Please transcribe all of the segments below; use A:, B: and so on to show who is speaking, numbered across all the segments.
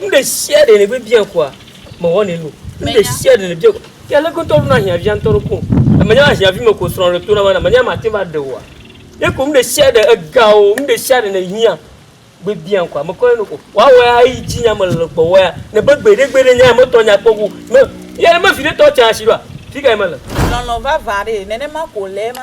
A: nu ɖe sia ɖe nègbe bia koa mewɔnɛ nu nu ɖe sia ɖe nèbia koa ke ale gbetɔ ɖona ahiãvia ŋutɔ ɖo ko menya ahiãvi me ko srɔ̃ ɖe tona mana menya mate ŋu aɖe oa ye ko nu ɖe sia ɖe ega o nu ɖe sia ɖe nèhiã gbe bia koa mekɔnɛ nu ko woawɔ ya eyi dzi nya mele gbɔwɔ ya nebe gbeɖe gbeɖe nya metɔ nya kpɔ ko me ye me viɖe tɔ tsa asi ɖoa fika ye mele lɔlɔ̃ vava ɖee nenema ko le ema.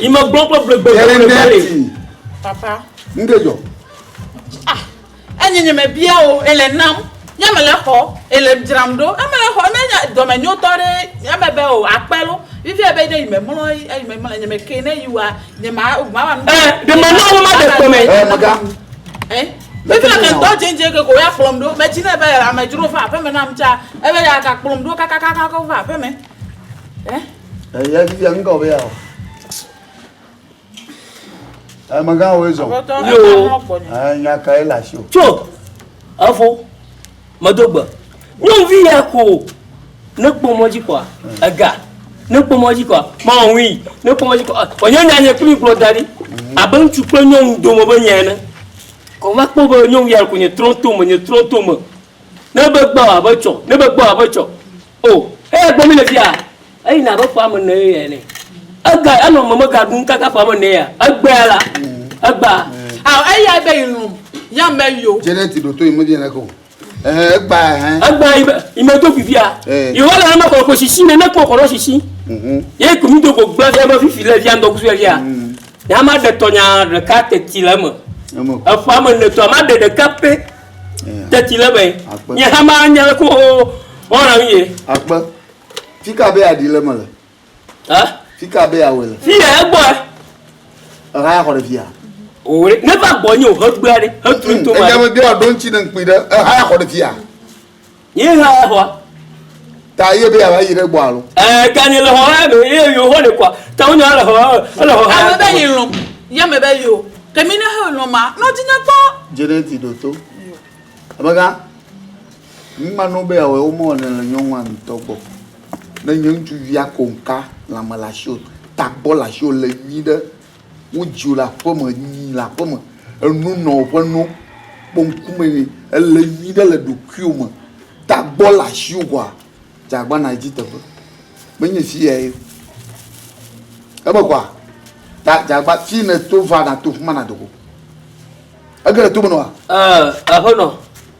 A: ime gbɔ kple gbegbe gbegbe papa nu ɖe dzɔ ah, enye nye me bia o ele nam nye me le xɔ ele dzram ɖo eme le xɔ menye dɔme nyo tɔ ɖe eme be o akpɛ lo vivi ebe ne yime mlɔ yime mlɔ nye me ke ne yi wa nye ma ma wa nu. ɛɛ de ma ma wo ma de kpɔmɛ. ɛɛ maga. ɛɛ vivi le mɛtɔ dzendzɛ ke ko ya kplɔm ɖo mɛ tsi ne be amedzro va aƒeme nam tsa ebe ya ka kplɔm ɖo kakakaka va aƒeme. Eh? Eh, ya vivi anga obe ya. Eh, maga wo ezo. Yo. Eh, nya ka e la sho. Cho. Afo. Madogba. Nyo vi ya ko. Ne kpo moji kwa. Aga. Ne kpo moji kwa. Ma wi. Ne kpo moji kwa. Onye nya nye kuli klo dari. Mhm. Abe ŋutsu kple nyɔnu dome be nya ene. Kɔ va kpɔ be nyɔnu ya ko nye trɔtome, nye trɔtome. Ne be gbɔ abe tsɔ, ne be gbɔ abe tsɔ. O, eya gbɔ mí le fia, eyina abe ƒe ame ene ye ene. Ega, enɔ meme ga ɖum kaka ƒe ame ene ya. Egbea la, egbea. A, eya be yi lum, ya me yo. Janet ɖo to yi me di ene ko. Ehe, egbea ehe. Egbea yi be, yi me do fifia. Yi wa le ame kɔkɔ sisi ne ne kɔ kɔrɔ sisi. Mhm. Ye ko mi do ko gbe fia be fifi le fia ŋdɔ kusu le fia. Mhm. Ya ma de tɔnya ɖeka teti le eme. Eme. Eƒe ame ene tɔ, ma de ɖeka pe. Teti le be. Nye hama nye le ko ɔna mi ye. Akpe. Fika be adi le me le. Ha? Fika be awe le. Fiye egbɔ. Eha ya xɔ ɖe fiya. Owe ne va gbɔ nye o he gbea ɖe. He tu to ma. Eja me bi ɔdo ntsi ne nkpi ɖe. Eha ya xɔ ɖe fiya. Yi hã xɔ. Ta ye be yava yi ɖe gbɔ alo. Ɛɛ gani le xɔ hã me ye yo xɔ le kɔ. Ta wonya le xɔ ele xɔ hã. Ame be yi lɔ. Ya me be yo. Ke mi ne he lɔ ma nɔ di ne tɔ. Jeneti ɖo to. Abega. Mi ma no be awɔ wo mɔ ne le nyɔnua ŋutɔ gbɔ. Ne nye ŋutsu via ko nka la me la sho. Ta gbɔ la sho le yi ɖe. Wodziwò le aƒeme, nyi le aƒeme, enu nɔ ƒe no, kpɔ ŋkume nɛ. Ele nyui ɖe le ɖokuiwò me. Tagbɔ le asiwò koa, dze agbana yi dzi teƒe. Menye fi yae ye o. Eme koa, ta dze agba fi nèto va nàto fi ma nàdo go. Ege le tome nɔa? Ɛɛ, aƒenɔ,